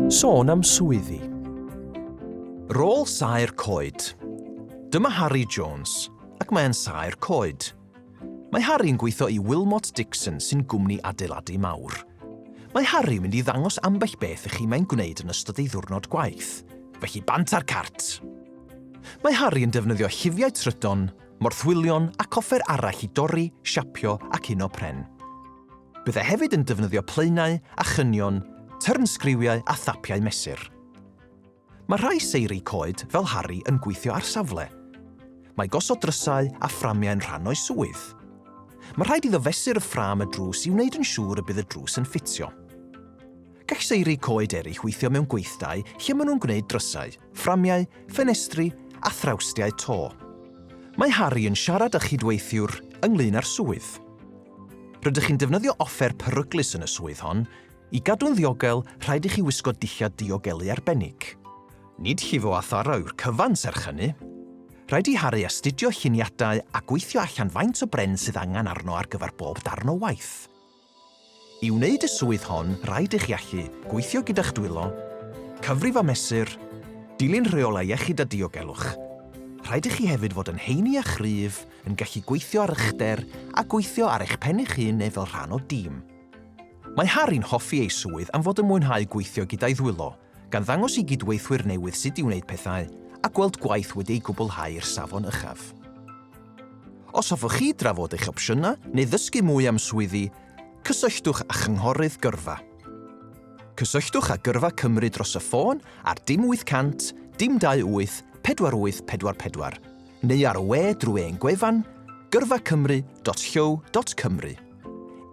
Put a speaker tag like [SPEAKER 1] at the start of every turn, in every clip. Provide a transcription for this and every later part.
[SPEAKER 1] Sôn am swyddi.
[SPEAKER 2] Rôl saer coed. Dyma Harri Jones, ac mae e'n saer coed. Mae Harri'n gweithio i Wilmot Dixon sy'n gwmni adeiladu mawr. Mae Harri'n mynd i ddangos ambell beth i chi mae'n gwneud yn ystod ei ddiwrnod gwaith, felly bant ar cart! Mae Harri yn defnyddio llifiau trydan, morthwylion ac offer arall i dorri, siapio ac uno pren. Byddai hefyd yn defnyddio plaenau a chynion, tyrnsgriwiau a thapiau mesur. Mae rhai seiri coed fel Harry yn gweithio ar safle. Mae gosod drysau a fframiau yn rhan o'i swydd. Mae rhaid iddo fesur y ffram y drws i wneud yn siŵr y bydd y drws yn ffitio. Gall seiri coed eraill weithio mewn gweithdai lle maen nhw'n gwneud drysau, fframiau, ffenestri a thrawstiau to. Mae Harry yn siarad â chydweithiwr ynglyn â'r swydd. Rydych chi'n defnyddio offer peryglus yn y swydd hon, i gadw'n ddiogel, rhaid i chi wisgo dillad diogelu arbennig. Nid llifo a tharo yw'r cyfan serch hynny. Rhaid i Harry astudio lluniadau a gweithio allan faint o bren sydd angen arno ar gyfer bob darn o waith. I wneud y swydd hon, rhaid i chi allu gweithio gyda'ch dwylo, cyfrif a mesur, dilyn rheolau iechyd a diogelwch. Rhaid i chi hefyd fod yn heini a chryf, yn gallu gweithio ar uchder a gweithio ar eich pen eich hun neu fel rhan o dîm. Mae Harry'n hoffi ei swydd am fod yn mwynhau gweithio gyda'i ddwylo, gan ddangos i gydweithwyr newydd sut i wneud pethau a gweld gwaith wedi ei gwblhau i'r safon uchaf. Os hoffech chi drafod eich opsiynau neu ddysgu mwy am swyddi, cysylltwch â Chynghorydd Gyrfa. Cysylltwch â Gyrfa Cymru dros y ffôn ar dim 800 dim 28 48 44 neu ar y we drwy ein gwefan gyrfacymru.llyw.cymru.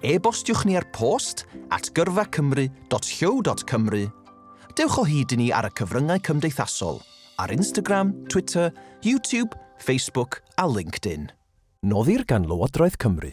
[SPEAKER 2] E-bostiwch ni ar post at gyrfacymru.llyw.cymru. Dewch o hyd i ni ar y cyfryngau cymdeithasol, ar Instagram, Twitter, YouTube, Facebook
[SPEAKER 1] a LinkedIn.
[SPEAKER 2] Noddir gan
[SPEAKER 1] Lywodraeth
[SPEAKER 2] Cymru.